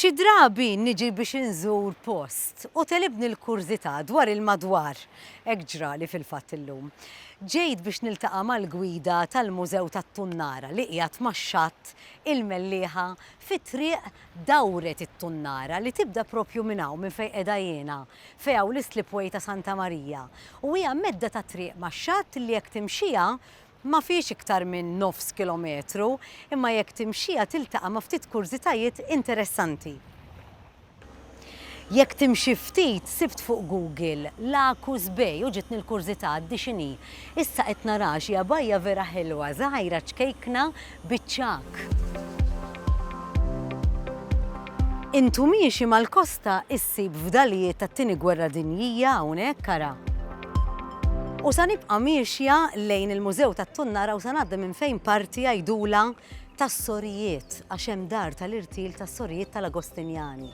Xi drabi niġi biex inżur post u tegħlibni l-kurżità dwar il-madwar. Hekk ġrali fil-fatt illum. Ġejt biex niltaqa' mal-gwida tal-Mużew tat-Tunnara li qiegħed max-xatt il-Mellieħa fi triq Dawret it-Tunnara li tibda proprju minn hawn minn fejn qiegħda jiena, fejn hawn l-islipway ta' Santa Marija. U hija medda ta' triq max-xatt li jekk timxiha Ma fiex iktar minn nofs kilometru, imma jekk timxiha tiltaqa' ma' ftit kurżitajiet interessanti. Jekk timxi ftit, sibt fuq Google Lacus Bay u ġietni l-kurżità għaddi x'inhi. Issa qed naraha xi għabajja vera ħelwa, żgħira, ċkejkna, biċ-ċagħaq. Intu miexi mal-kosta issib fdalijiet tat-Tieni Gwerra Dinjija hawnhekk ara. U sa nibqa' miexja lejn il-Mużew tat-Tunnara u sa ngħaddi minn fejn parti għajdula tas-sorijiet għax hemm dar tal-irtil tas-sorijiet tal-Agostinjani.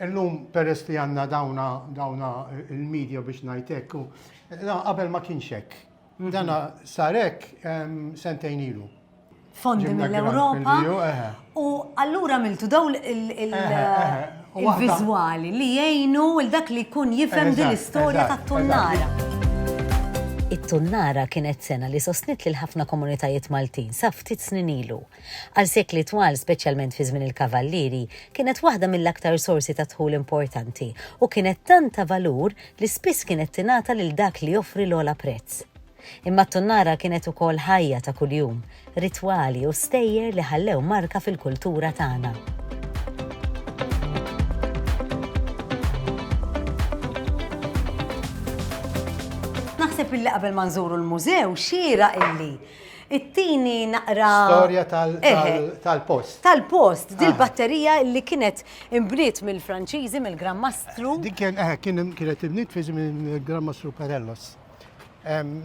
Illum peress li għandna dawna dawna il-media biex ngħid hekk u da qabel ma kienx hekk. Dana sar hekk em, sentejn ilu. fondi Ġibna grant mill-Ewropa. mill-EU, eħe. U allura għamiltu daw il- il- il- Eħe, eħe. U waħda- il-viżwali li jgħinu il dak li jkun jifhem din Eżatt, l-istorja eżatt, tat-tunnara. It-tunnara kienet sena li sostniet lil ħafna komunitajiet Maltin sa ftit snin ilu. Għal sekli twal, speċjalment fi żmien il-Kavallieri, kienet waħda mill-aktar sorsi ta' dħul importanti u kienet tant ta' valur li spiss kienet tingħata lil dak li joffri l-ogħla prezz. Imma t-tunnara kienet ukoll ħajja ta' kuljum, ritwali u stejjer li ħallew marka fil-kultura tagħna. Naħseb illi qabel ma nżuru l-mużew xieraq illi It-tieni naqra. Storja tal-post. Tal-post, dil-batterija li kienet imbniet mill-Franċiżi, mill-Gran Mastru. Dik kienet imbniet fi żmien il-Gran Mastru Perellos.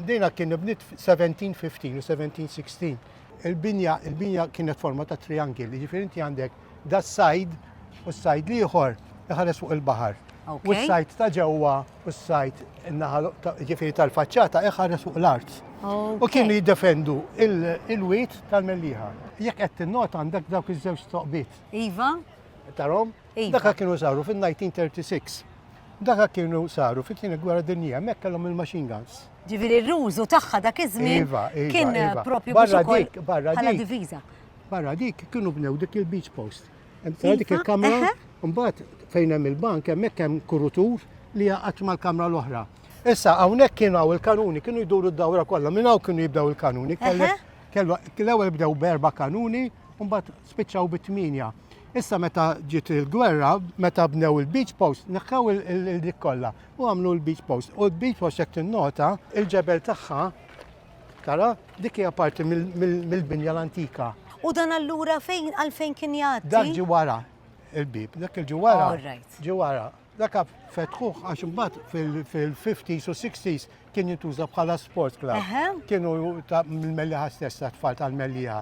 Dina kien imbniet 1715 u 1716. Il-binja, il-binja kienet forma ta' triangil, jiġifieri inti għandek da sajd u s-sajd l-ieħor iħares fuq il-baħar. U s-sajd ta' ġewwa u s-sajd in-naħa ġifieri tal-faċċata iħares fuq l-art. U kienu jiddefendu il-wit tal-melliħa. Jekk qed tinnota għandek dawk iż-żewġ toqbiet. Iva. Tarom? Iva. Dak kienu saru fin-1936. Dak kienu saru fit-tieni gwerra dinjija, hemmhekk kellhom il-machine guns. Ġifieri r-rużu tagħha dak iż-żmien iva, iva, kien iva. propju barra dik, barra dik. Barra dik kienu bnew dik il-beach post. Tara dik Iva, il-kamra, eħe. mbagħad fejn hemm il-bank hemmhekk hemm kurutur li jaqgħad mal-kamra l-oħra. Issa hawnhekk kienu hawn il-kanuni, kienu jduru d-dawra kollha, minn hawn kienu jibdew il-kanuni. Kellek- Eħe. kellu- L-ewwel bdew b'erba' kanuni, u mbagħad spiċċaw bi tminja. Issa meta ġiet il-gwerra, meta bnew il-beach post, neħħew il- il- il- dik kollha u għamlu l-beach post. U l-beach post jekk tinnota, il-ġebel tagħha Tara, dik hija parti mill-binja l-antika. U dan allura fejn għalfejn kien jgħaddi? Dak ġi wara il-bib, dak il-ġi wara. Ġi wara. Dak fetħuh għax imbagħad fil-50s u 60s kien jintuża bħala sport club. Kienu mill-melliħa stessa tfal tal-melliħa.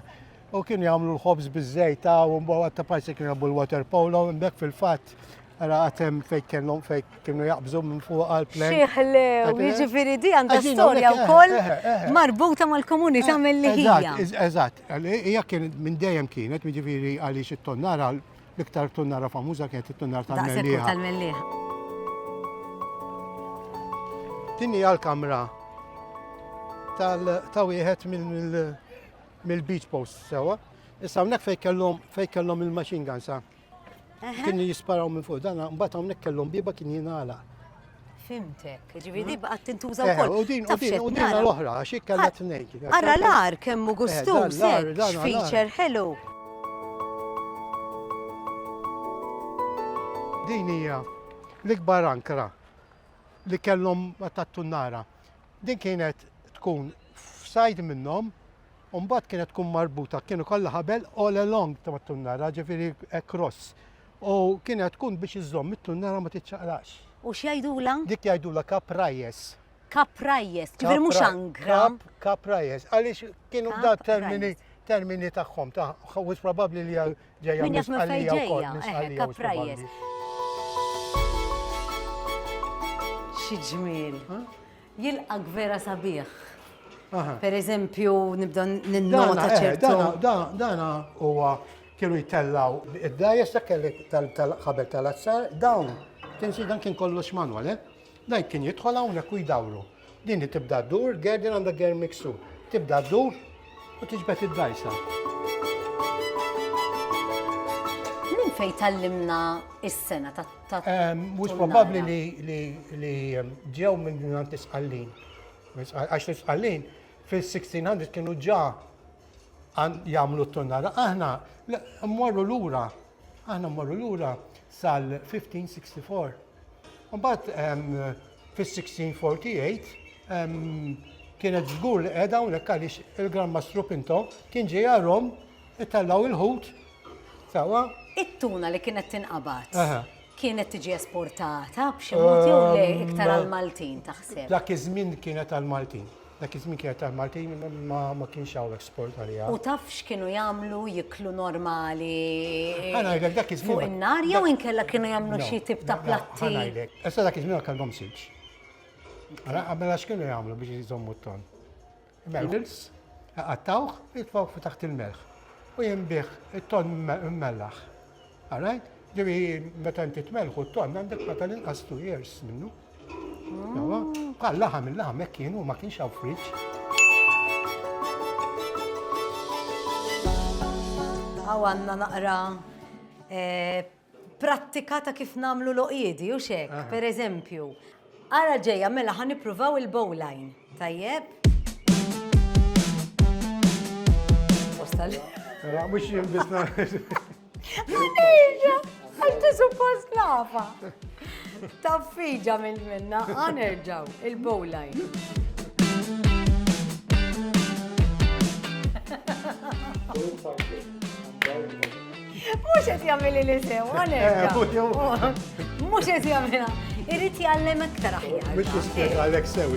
U kienu jagħmlu l-ħobż biż-żejt ta' u mbagħad għatta parti kienu jagħmlu l-water polo, imbek fil-fatt Għara għatem fejk kellhom fejk kienu jaqbżu minn fuq għal-plan. Xieħle, jġifiri di għandha storja u koll eh, eh, eh. marbuta mal-komunità mill-li hija. Eżatt, hija kien minn dejjem kienet, jġifiri għaliex it-tonnara, l-iktar tonnara famuża kienet it-tonnara tal-mellieħa. Tinni għal-kamra tal-tawiħet mill mill-beach post sewa. Issa hawnhekk fejn kellhom fejn kellhom il-machine guns sa. Kienu jisparaw minn fuq dan, mbagħad hawnhekk kellhom biba kien jingħala. Fimtek, ġivi di baqgħet tintuża eh, wkoll. U din u din u din l-oħra għax hekk kellha tnejn. Ara l-ar kemm hu eh, gustuż hekk, feature ħelu. Din hija l-ikbar ankra li kellhom tat-tunnara. Din kienet tkun f'sajd minnhom u mbagħad kienet tkun marbuta, kienu kollha ħabel all along ta' mat-tunnara, ġifieri cross. U kienet tkun biex iżżomm it-tunnara ma tiċċaqlax. U x'jgħidulha? Dik jgħidulha caprajes. Caprajes, ġifieri mhux angra. Caprajes, għaliex kienu da termini termini tagħhom, ta' wisq probabbli li Ġejja Min jaf minn fejn misqalija wkoll, ġejja, misqalija eħe, u kaprajjes. sbaballi. Xi ġmiel. Jilqak vera sabiħ. Aha. Per eżempju, nibda Dana, ninnota eh, ċertu. dana, da- dana huwa kienu jtellaw id-dajes dak kelli tal- tal-ħabel tal-azzar, dawn kien si dan kien kollox manwal, eh? Dan kien jidħol hawnhekk u jdawru. Din li tibda ddur, gerden għandha germ miksur. Tibda ddur u tiġbed id-dajsa. Minn fejn tallimna is-sena ta' ta' Mhux probabbli li li li ehm, ġew minn mingħand l-isqallin. Għax l-isqallin fil-1600 kienu ġa għan- jagħmlu t-tunnara. Aħna le, mmorru lura, aħna mmorru lura sal-1564. Mbagħad ehm, fis-1648 kienet żgur li qiegħda hawnhekk għaliex il-Gran Mastru Pinto kien ġejha Rom itellgħu l-ħut sewwa. It-tuna li kienet tinqabad kienet tiġi esportata b'xi mod jew le iktar għall-Maltin taħseb? Dak iż-żmien kienet għall-Maltin. Dak iż-żmien kienet taf Maltin imma ma ma kienx hawnhekk sport għaliha. U taf x'kienu jagħmlu jiklu normali Ħa ngħidlek dak iż-żmien. fuq in-nar jew inkella kienu jagħmlu xi tip ta' platti? Ħa ngħidlek. Issa dak iż-żmien ma kellhomx silġ. Ara, mela x'kienu jagħmlu biex iżommu t-ton? Noodles, iqattgħuh, jitfgħuh fi taħt il-melħ u jinbiegħ it-ton immellaħ. Għarajt? Ġifieri meta inti tmelħu t-tonn għandek ma tal-inqas two years minnu. Bħal laħam il-laħam hekk kienu ma kienx hawn friġġ. Għaw għanna naqra eh, prattika ta' kif namlu loqjedi, u xek, ah. per eżempju, Ara ġejja mela ħa nippruvaw il-bowline. Tajjeb? Postal. Mela mhux jien biss Għanerġa, għax ti suppost nafa. Taffiġa minn minna, għanerġaw, il-bowline. Thank you. Mhux qed jagħmel li sew, għalhekk. Mhux qed jagħmilha. Irid jgħallem aktar aħjar. Mhux jispjega għalhekk sew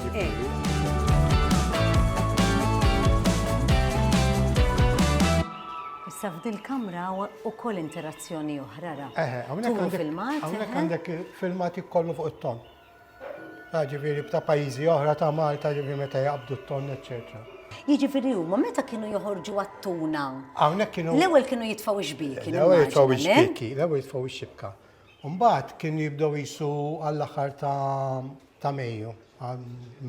Issa f'dil kamra u koll interazzjoni oħra ra. Eħe, għamnek filmat. Għamnek għandek filmat kollu fuq it-ton. Ah, ġifieri b'ta' pajjiżi oħra ta' Malta, ġifieri meta jaqbdu t-tonn, eċċetera. Jiġifieri huma meta kienu joħorġu għat-tuna? Hawnhekk kienu. L-ewwel kienu jitfgħu x-xbieki. L-ewwel jitfgħu x-xbieki, l-ewwel jitfgħu x-xibka. U mbagħad kienu jibdew qisu għall-aħħar ta' Mejju,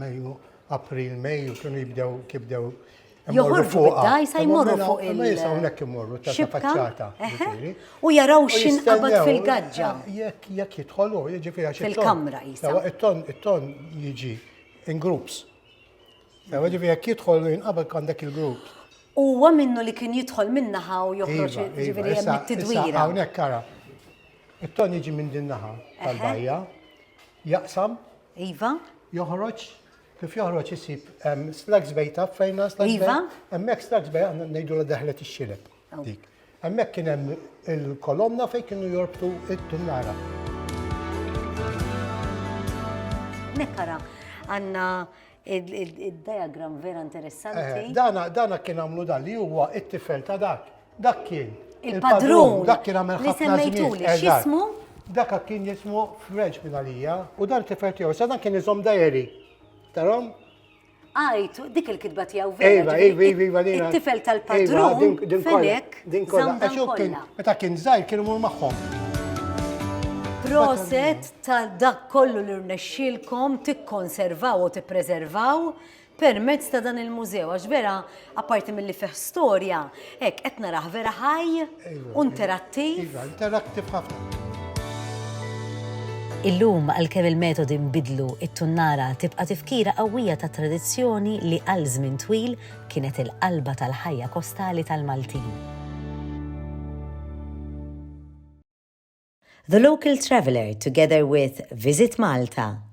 Mejju, April, Mejju, kienu jibdew kif bdew joħorġu bid-dajsa jmorru fuq il-xibka u jaraw xin qabad fil-gaġġa. Jekk jidħolu, jiġifieri għax il-kamra jisa. It-ton jiġi in groups. Jiġifieri jekk jidħolu jinqabad għandek il-grupp. Huwa minnu li kien jidħol minnaħa u joħroġ iva, iva, jiġifieri hemm it-tidwira. Hawnhekk kara. It-ton jiġi minn din naħa tal-bajja, jaqsam. Iva. Joħroġ Kif joħroġ isib hemm Slugs Bay taf fejn Slugs Bay? Iva. Hemmhekk Slugs Bay għandna ngħidu la daħlet ix-xileb. Oh. Dik. Hemmhekk kien hemm il-kolonna fejn kienu jorbtu it-tunnara. Nekkara, għandna id-diagram vera interessanti. Eh, dana kien għamlu dan li huwa it-tifel ta' dak. Dak kien. Il-padrun. Dak kien għamel ħafna. Li semmejtuli, xismu? Dak kien jismu French minn għalija u dan kif qed jew sa dan kien iżom dajeri. Tarom? Għajt, dik il-kitba tiegħu vera. Iva, iva, iva, iva, iva. It-tifel tal-padrun. Din kollha. Din kollha. Meta kien żgħir kien imur magħhom. Proset ta' dak kollu li rnexxilkom tikkonservaw u tippreservaw permezz ta' dan il-mużew, għax vera, apparti milli fih storja, hekk qed narah vera ħaj u interattiv. Iva, interattiv ħafna. Illum, għalkemm il-metodi nbidlu, it-tunnara tibqa' tifkira qawwija ta' tradizzjoni li għal żmien twil kienet il-qalba tal-ħajja kostali tal-Maltin. The Local Traveller together with Visit Malta,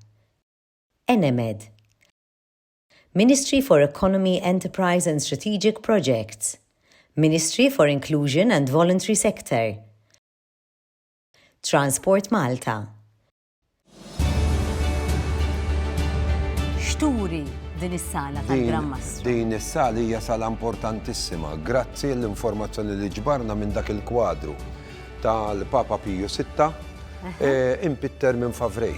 Enemed, Ministry for Economy, Enterprise and Strategic Projects, Ministry for Inclusion and Voluntary Sector, Transport Malta. X'turi din is-sala tal-Gran Mastru? Din is-sala hija sala importantissima, grazzi l-informazzjoni li ġbarna minn dak il-kwadru. tal-Papa Piju Sitta, impitter minn Favray.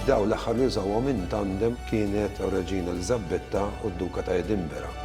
Dawn l-aħħar li użawhom in tandem kienet r-Reġina Eliżabetta u d-Duka ta' Edinburgh.